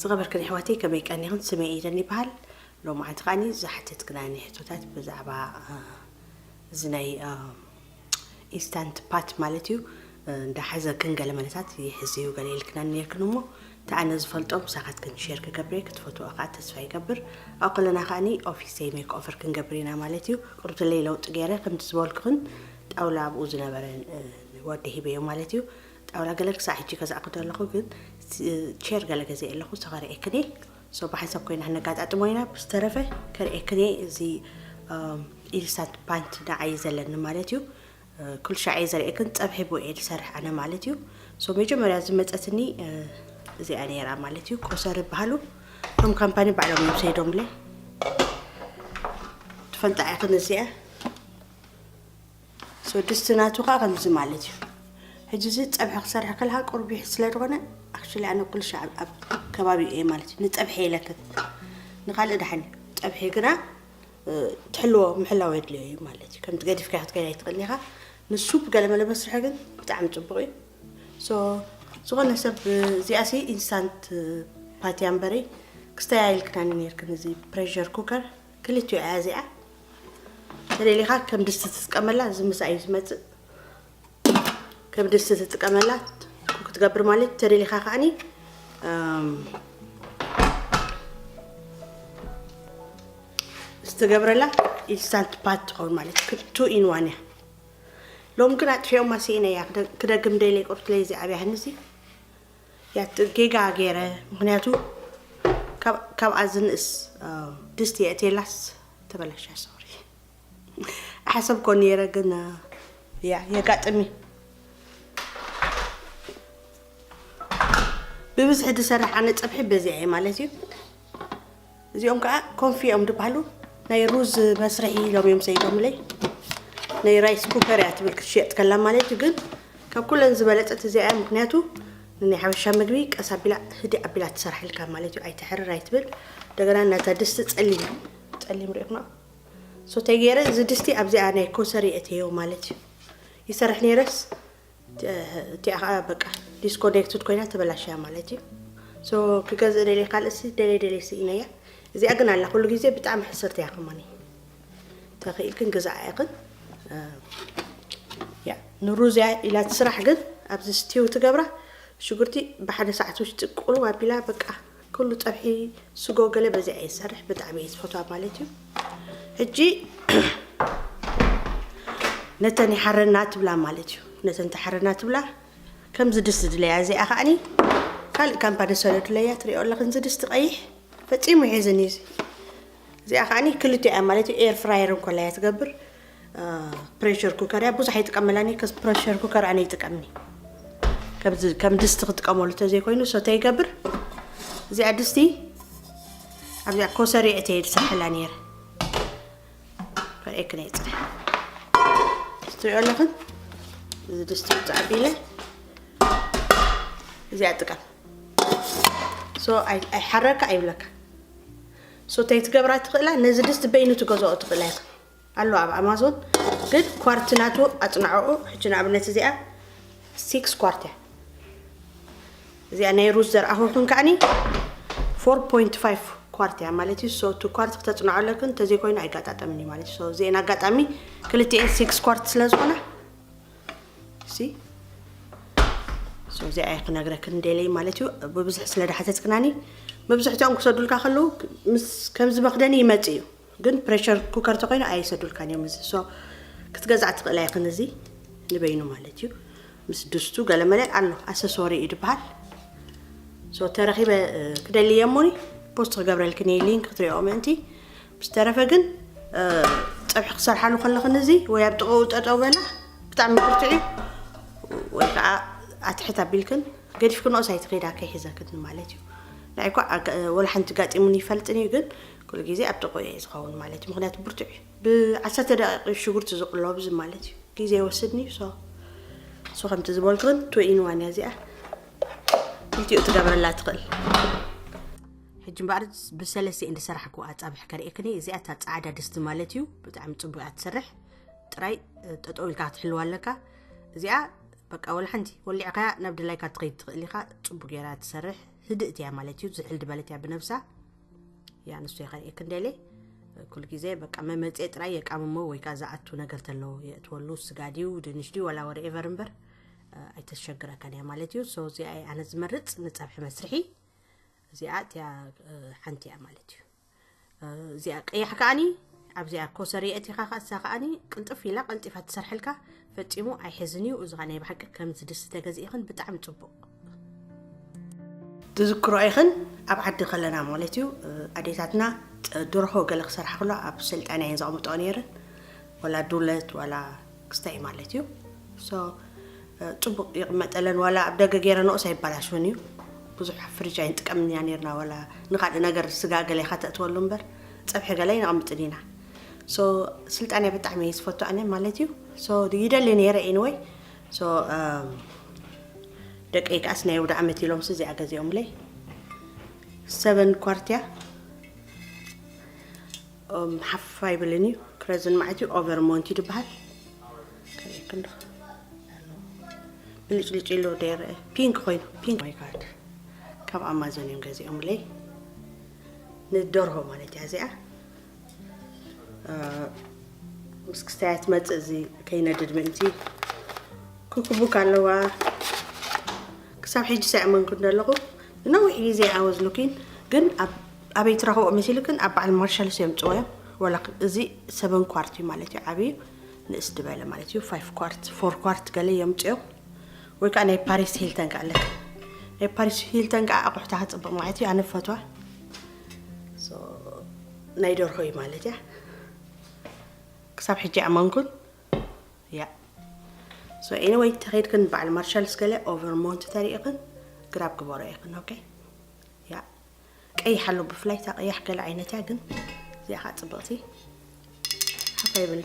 ዝኸበርክን ኣሕዋተይ ከመይ ቀኒኽን ስመይ ኢደን ይበሃል ሎማዓንቲ ከዓኒ ዝሓተትክና ናይ ሕቶታት ብዛዕባ እዚ ናይ ኢንስታንት ፓት ማለት እዩ እንዳሓዘክን ገለ መለታት ይሕዝ እዩ ገለ ኢልክና ነርክን እሞ ተኣነ ዝፈልጦ ምሳኻትክን ሸር ክገብረ ክትፈትዎ ከዓ ተስፋ ይገብር ኣብ ከለና ከዓኒ ኦፊሰይ ሜክ ኦፈር ክንገብር ኢና ማለት እዩ ቅርብተለይ ለውጢ ገይረ ከምቲ ዝበልክኽን ጣውላ ኣብኡ ዝነበረ ወዲ ሂበዮ ማለት እዩ ጣውላ ገለ ክሳዕ ሕጂ ገዛእኩ ዘለኹ ግን ቸር ገለ ገዜ ኣለኹ እሱ ከርእየክን እየ ሶ ብሓንሳብ ኮይና ክነጋጣጥሞ ኢና ብዝተረፈ ከርእየክን እየ እዚ ኢንስታንት ፓንት ንዓይ ዘለኒ ማለት እዩ ኩሉ ሻዕ እየ ዘርእየክን ፀብሒ ቦ እየ ዝሰርሕ ኣነ ማለት እዩ ሶ መጀመርያ ዝመፀትኒ እዚኣ ነይራ ማለት እዩ ቆሰር ይበሃሉ እቶም ካምፓኒ ባዕሎም እዮም ሰይዶምለ ትፈልጣ ኢኽን እዚኣ ስድስቲ ናቱ ከዓ ከምዚ ማለት እዩ ሕጂ እዚ ፀብሒ ክሰርሕ ከለካ ቁርቢሕ ስለ ዝኾነ ኣክቹሊ ኣነ ኩሉ ሻዕ ኣብ ከባቢ እየ ማለት እዩ ንፀብሒ የለክት ንካልእ ዳሓን ፀብሒ ግና ትሕልዎ ምሕላው የድልዮ እዩ ማለት እዩ ከምቲ ገዲፍካ ክትከይድ ኣይትኽእልን ኢኻ ንሱፕ ገለ መለ መስርሒ ግን ብጣዕሚ ፅቡቅ እዩ ሶ ዝኾነ ሰብ እዚኣ ሲ ኢንስታንት ፓትያ እምበሪ ክስተያየልክናኒ ነርክን እዚ ፕሬር ኩከር ክልቲኡ እያ እዚኣ ተደሊኻ ከም ድስቲ ትጥቀመላ እዚ ምሳ እዩ ዝመፅእ ከም ድስቲ ትጥቀመላ ክትገብር ማለት ተደሊኻ ከዓኒ ዝተገብረላ ኢንስታንት ፓት ትኸውን ማለት ቱ ኢን ዋን እያ ሎም ግን ኣጥፊኦም ማስኢነ እያ ክደግም ደይለ ቁርትለይ እዚ ዓብያ ህንዚ ያት ጌጋ ገይረ ምክንያቱ ካብኣ ዝንእስ ድስቲ የእቴላስ ተበላሻ ሶሪ ሓሰብ ኮ ነይረ ግን ያ የጋጥሚ ብብዝሒ ዝሰራሕ ኣነ ፀብሒ በዚዐ ማለት እዩ እዚኦም ከዓ ኮንፊ እዮም ዝበሃሉ ናይ ሩዝ መስርሒ ኢሎም እዮም ሰይዶምለይ ናይ ራይስ ኩከር እያ ትብል ክትሸየጥ ከላ ማለት እዩ ግን ካብ ኩለን ዝበለፀት እዚኣ እያ ምክንያቱ ንናይ ሓበሻ ምግቢ ቀስ ኣቢላ ህዲ ኣቢላ ትሰርሐልካ ማለት እዩ ኣይትሕርር ኣይትብል እንደገና ናታ ድስቲ ፀሊም ፀሊም ሪእኹና ሶተይ ገይረ እዚ ድስቲ ኣብዚኣ ናይ ኮሰሪ እትየው ማለት እዩ ይሰርሕ ነይረስ እቲኣ ከዓ በቃ ዲስኮኔክትድ ኮይና ተበላሽያ ማለት እዩ ሶ ክገዝእ ደልየ ካልእሲ ደልየ ደልየ ስኢነያ እዚኣ ግን ኣላ ኩሉ ግዜ ብጣዕሚ ሕስርቲ እያ ከማኒ ተኽኢልክን ግዛኣ ኢኽን ያ ንሩዝ እያ ኢላ ትስራሕ ግን ኣብዚ ስቲው ትገብራ ሽጉርቲ ብሓደ ሰዓት ውሽጢ ቁልው ኣቢላ በቃ ኩሉ ጸብሒ ስጎ ገለ በዚዐ እየ ዝሰርሕ ብጣዕሚ እየ ዝፈትዋ ማለት እዩ ሕጂ ነተን ይሓረና ትብላ ማለት እዩ ነተን ተሓረና ትብላ ከምዚ ድስ ዝድለያ እዚኣ ከዓኒ ካልእ ካምፓ ደሰለ ድለያ ትሪኦ ኣለኽን እዚ ድስቲ ቀይሕ ፈፂሙ ይሕዝን እዩ እዚኣ ከዓኒ ክልቲኣ ማለት እዩ ኤር ፍራየር እንኮላያ ትገብር ፕሬሸር ኩከር እያ ብዙሕ ኣይጥቀመላን እየ ከስ ፕሬሸር ኩከር ኣነ ይጥቀምኒ ከምዚ ከም ድስቲ ክጥቀመሉ እንተዘይኮይኑ ሰተ ይገብር እዚኣ ድስቲ ኣብዚኣ ኮሰሪዕት እየ ዝሰርሐላ ነይረ ከርእየክ ናይ ፅረ ትሪኦ ኣለኽን እዚ ድስቲ ውፃእ ቢለ እዚኣ ጥቀም ሶ ኣይሓረካ ኣይብለካ ሶ እንታይ ትገብራ ትኽእላ ነዚ ድስቲ በይኑ ትገዝኦ ትኽእላ ኢኻ ኣሎ ኣብ ኣማዞን ግን ኳርቲ ናቱ ኣጽናዕዑ ሕጂ ንኣብነት እዚኣ ሲክስ ኳርት እያ እዚኣ ናይ ሩዝ ዘርኣኹ ኩን ከዓኒ ፎር ፖይንት ፋይቭ ኳርት እያ ማለት እዩ ሶ ቱ ኳርት ክተጽናዑ ኣለክን እንተዘይኮይኑ ኣይጋጣጠምን እዩ ማለት እዩ ሶ እዚአን ኣጋጣሚ ክልቲኤን ሲክስ ኳርት ስለ ዝኾና ሲ ሶ እዚኣ እየ ክነግረክን ደለይ ማለት እዩ ብብዝሒ ስለ ዳሓተትክናኒ መብዝሕትኦም ክሰዱልካ ከለዉ ከምዚ መክደኒ ይመፅ እዩ ግን ፕረሸር ኩከር ተኮይኑ ኣይሰዱልካን እዮም እዚ so ክትገዝኣ ትክእል ኣይክን እዚ ንበይኑ ማለት እዩ ምስ ድስቱ ገለመለ ኣሎ ኣሰሶሪ እዩ ድበሃል so ተረኪበ ክደሊ እየ እሞኒ ፖስት ክገብረልክን እየ ሊንክ ክትሪኦ ምእንቲ ምስ ተረፈ ግን ፀብሒ ክሰርሓሉ ከለክን እዚ ወይ ኣብ ጥቅኡ ጠጠው በላ ብጣዕሚ ብርትዕ እዩ ወይ ከዓ ኣትሕት ኣቢልክን ገዲፍክንኦስ ኣይትኸዳ ከይሕዘክን ማለት እዩ ንዓይ እኳ ወላ ሓንቲ ጋጢሙን ይፈልጥን እዩ ግን ኩሉ ግዜ ኣብ ጥቕኡ እየ ዝኸውን ማለት እዩ ምኽንያቱ ብርቱዕ እዩ ብ ዓሰርተ ደቒቕ እዩ ሽጉርቲ ዝቕሎ ብዚ ማለት እዩ ግዜ ኣይወስድን እዩ ሶ ሶ ከምቲ ዝበልኩን ቱ ኢን ዋን እያ እዚኣ ክልቲኡ ትገብረላ ትኽእል ሕጂ እምበኣር ብሰለስተ እንዲ ሰራሕኩ ኣጻብሕ ከርእክኒ እዚኣ እታ ጻዕዳ ድስቲ ማለት እዩ ብጣዕሚ ጽቡቅ እያ ትሰርሕ ጥራይ ጠጠው ኢልካ ክትሕልዋ ኣለካ እዚኣ በቃ ወላ ሓንቲ ወሊዕካያ ናብ ድላይካ ትኸይድ ትኽእል ኢኻ ጽቡቅ ገይራ ትሰርሕ ህድእት እያ ማለት እዩ ዝሕል ድበለት እያ ብነብሳ ያ ንሱ የኸን ክንደሌ ኩሉ ግዜ በቃ መመፄ ጥራይ የቃምሞ ወይ ከዓ ዝኣቱ ነገር ተሎ የእትወሉ ስጋ ድዩ ድንሽ ድዩ ወላ ወረ ኤቨር እምበር ኣይተሸግረካን እያ ማለት እዩ ሶ እዚኣ ኣነ ዝመርፅ ንፀብሒ መስርሒ እዚኣ እቲያ ሓንቲ እያ ማለት እዩ እዚኣ ቀያሕ ከዓኒ ኣብዚኣ ኮሰር የእቲኻ ከ እሳ ከዓኒ ቅልጥፍ ኢላ ቀልጢፋ ትሰርሐልካ ፈጺሙ ኣይሕዝን እዩ እዚ ናይ ብሓቂ ከምዚ ድስቲ ተገዚእኽን ብጣዕሚ ጽቡቅ ትዝክሮ ኢኽን ኣብ ዓዲ ከለና ማለት እዩ ኣዴታትና ድርሆ ገለ ክሰርሓ ከሎ ኣብ ሰልጣና እየን ዘቕምጠኦ ነይረን ወላ ዱለት ወላ ክስታይ ማለት እዩ ጽቡቅ ይቕመጠለን ወላ ኣብ ደገ ገይረንኦስ ኣይበላሽውን እዩ ብዙሕ ፍሪጅ ኣይንጥቀምን ኢና ነርና ወላ ንካልእ ነገር ስጋ ገለ ከተእትወሉ እምበር ፀብሒ ገለ ይነቕምጥን ኢና ሶ ስልጣንያ ብጣዕሚ እየ ዝፈቱ ኣነ ማለት እዩ ሶ ይደሊ ነይረ ኢንወይ ሶ ደቀይ ከዓስ ናይ ወደ ዓመት ኢሎም ስዚኣ ገዚኦምለይ ሰበን ኳርትያ ሓፋ ይብልን እዩ ክረዝን ማለት እዩ ኦቨር ሞንት እዩ ዝበሃል ክንዶ ብልጭልጭ ኢሉ ዶ ይረአ ፒንክ ኮይኑ ፒንክ ማይ ጋድ ካብ ኣማዞን እዮም ገዚኦምለይ ንደርሆ ማለት እያ እዚኣ ምስ ክስታያ ትመፅእ እዚ ከይነድድ ምእንቲ ክኩቡክ ኣለዋ ክሳብ ሕጂ ሳይኣመንኩን ዘለኹ ንነዊሕ ግዜ ኣወዝኑኪን ግን ኣበይ ትረኽቦ መሲልክን ኣብ በዓል ማርሻልስ እዮም ፅወዮም ወላ እዚ ሰበን ኳርት እዩ ማለት እዩ ዓብዩ ንእስ ድበለ ማለት እዩ ፋይፍ ኳርት ፎር ኳርት ገለ እዮም ፅዮ ወይ ከዓ ናይ ፓሪስ ሂልተን ከዓ ኣለክ ናይ ፓሪስ ሂልተን ከዓ ኣቑሑታ ክፅብቕ ማለት እዩ ኣነ ፈትዋ ናይ ደርሆ እዩ ማለት እያ ክሳብ ሕጂ ኣመንኩን እያ ሶ ኤኒወይ ተኸይድክን በዓል ማርሻል ስገለ ኦቨር ሞንት ተሪእኽን ግራብ ግበሮ ኢኽን ኦኬ እያ ቀይሕ ኣሎ ብፍላይ እታ ቀያሕ ገለ ዓይነት እያ ግን እዚኣ ከዓ ፅብቕቲ ሓፋ ይብል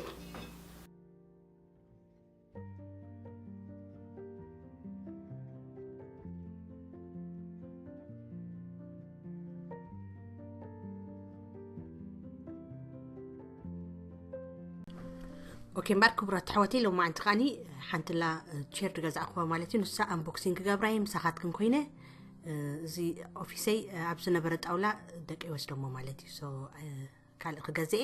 ኦኬ እምበር ክቡራት ኣሕዋተይ ሎማዓንቲ ከዓኒ ሓንትላ ቸር ድገዛእኹዋ ማለት እዩ ንሳ ኣንቦክሲንግ ክገብራ እየ ምሳኻትክን ኮይነ እዚ ኦፊሰይ ኣብ ዝነበረ ጣውላ ደቂ ወስደሞ ማለት እዩ ካልእ ክገዝአ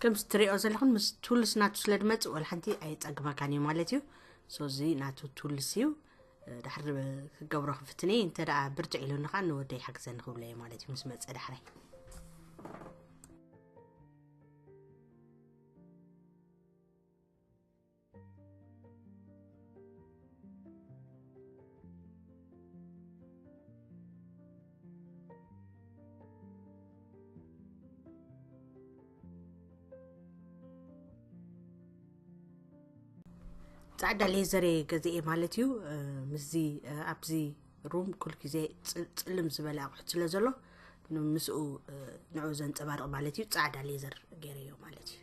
ከምዚ ትሪኦ ዘለኹን ምስ ቱልስ ናቱ ስለ ድመጽእ ወላ ሓንቲ ኣየጸግመካን እዩ ማለት እዩ ሶዚ ናቱ ቱልስ እዩ ድሕሪ ክገብሮ ክፍትን እየ እንተ ደኣ ብርትዕ ኢሉኒ ከዓ ንወደይ ሓግዘኒ ክብሎ እየ ማለት እዩ ምስ መጸ ዳሕራይ ፃዕዳ ሌዘር እየ ገዚኤ ማለት እዩ ምስዚ ኣብዚ ሩም ኩል ግዜ ፅልም ዝበለ ኣቑሑት ስለ ዘሎ ምስኡ ንዑ ዘንፀባርቕ ማለት እዩ ፃዕዳ ሌዘር ገይረዮ ማለት እዩ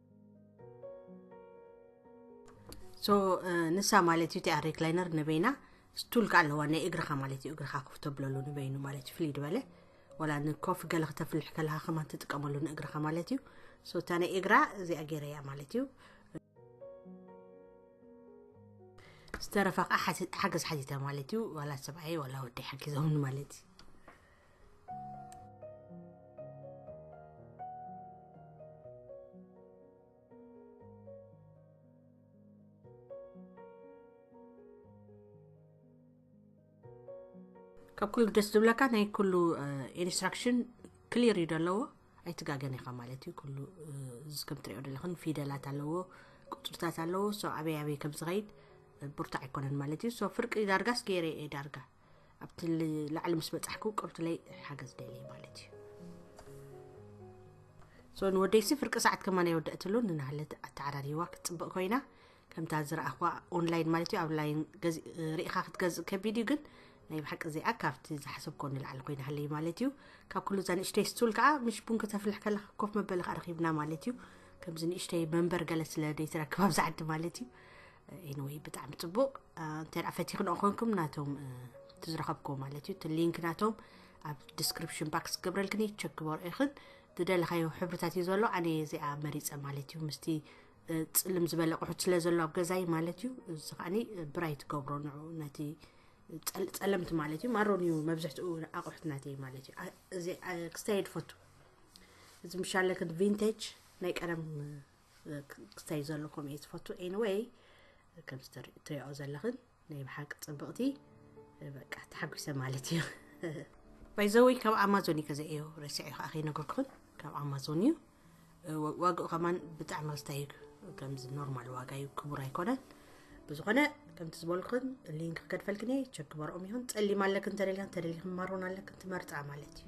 ሶ ንሳ ማለት እዩ ቲኣር ሪክላይነር ንበይና ስቱል ከዓ ኣለዋ ናይ እግርኻ ማለት እዩ እግርኻ ኮፍ ተብለሉ ንበይኑ ማለት እዩ ፍልይ ድበለ ወላ ንኮፍ ገለ ክተፍልሕ ከለካ ከማን ትጥቀመሉ ንእግርኻ ማለት እዩ ሶ እታ ናይ እግራ እዚኣ ገይረያ ማለት እዩ ዝተረፈ ከዓ ሓገዝ ሓቲተ ማለት እዩ ዋላ ሰብኣይ ዋላ ወዲ ሓጊዞምን ማለት እዩ ካብ ኩሉ ደስ ዝብለካ ናይ ኩሉ ኢንስትራክሽን ክሊር እዩ ዘለዎ ኣይትጋገን ኢኻ ማለት እዩ ኩሉ ከም ትሪኦ ዘለኽን ፊደላት ኣለዎ ቁፅርታት ኣለዎ ሶ ኣበይ ኣበይ ከም ዝኸይድ ብርቱዕ ኣይኮነን ማለት እዩ ሶ ፍርቂ ዳርጋስ ገይረ እየ ዳርጋ ኣብቲ ላዕሊ ምስ በፃሕኩ ቅርቱለይ ሓገዝ ደልየ ማለት እዩ ሶ ንወደይሲ ፍርቂ ሰዓት ከማን የወደእትሉ ንናህለት ኣተዓራሪዋ ክትፅብቕ ኮይና ከምታ ዝረኣኽዋ ኦንላይን ማለት እዩ ኣብ ላይን ርኢኻ ክትገዝእ ከቢድ እዩ ግን ናይ ብሓቂ እዚኣ ካብቲ ዝሓሰብኮ ንላዕሊ ኮይና ሃለይ ማለት እዩ ካብ ኩሉ እዛ ንእሽተይ ስቱል ከዓ ምሽ ቡን ክተፍልሕ ከለካ ኮፍ መበሊ ከዓ ረኪብና ማለት እዩ ከምዚ ንእሽተይ መንበር ገለ ስለ ደይትረክብ ኣብዚ ዓዲ ማለት እዩ ኤንወይ ብጣዕሚ ፅቡቅ እንተ ፈቲክንኦ ኮንኩም ናቶም እቲ ዝረኸብክዎ ማለት እዩ እቲ ሊንክ ናቶም ኣብ ዲስክሪፕሽን ባክስ ክገብረልክን እዩ ቸክ ክበርኦ ይኽን ዝደለኻዮ ሕብርታት እዩ ዘሎ ኣነ እዚኣ መሪፀ ማለት እዩ ምስቲ ፅልም ዝበለ ቁሑት ስለ ዘሎ ኣብ ገዛይ ማለት እዩ እዚ ከዓኒ ብራይ ትገብሮ ንዑ ነቲ ፀለምቲ ማለት እዩ ማሮን እዩ መብዝሕትኡ ኣቑሑት ናተይ ማለት እዩ እዚ ክስታይ ድፈቱ እዚ ምሻለክን ቪንቴጅ ናይ ቀደም ክስታይ ዘሎ ከምኡ እየ ዝፈቱ ኤኒወይ ከምዚ ትሪኦ ዘለኽን ናይ ብሓቂ ፅብቕቲ በቃ ተሓጒሰ ማለት እዩ ባይዘወይ ካብ ኣማዞን እዩ ከዘእዮ ረሲዐ ከዓ ከይነገርኩኽን ካብ ኣማዞን እዩ ዋግኡ ከማን ብጣዕሚ ክስታይ እዩ ከምዚ ኖርማል ዋጋ እዩ ክቡር ኣይኮነን ብዝኾነ ከምቲ ዝበልኩን ሊንክ ከድፈልክን እየ ቸክ ግበርኦም ይኹን ፀሊም ኣለክን ተደልያን ተደሊክን ማሮን ኣለክን ትመርፃ ማለት እዩ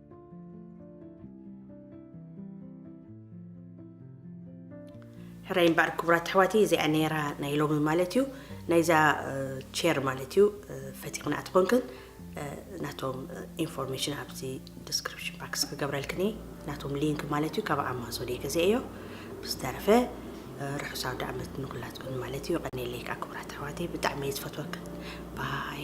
ሕራይ እምበኣር ክቡራት ኣሕዋተይ እዚኣ ነይራ ናይ ሎሚ ማለት እዩ ናይዛ ቸር ማለት እዩ ፈቲቕና እትኾንክን ናቶም ኢንፎርሜሽን ኣብዚ ዲስክሪፕሽን ባክስ ክገብረልክኒ ናቶም ሊንክ ማለት እዩ ካብ ኣማዞን እየ ገዚአ እዮ ብዝተረፈ ርሑስ ኣውደ ዓመት ንኩላትኩም ማለት እዩ ቀኒለይ ከዓ ክቡራት ኣሕዋተይ ብጣዕሚ እየ ዝፈትወክን ባይ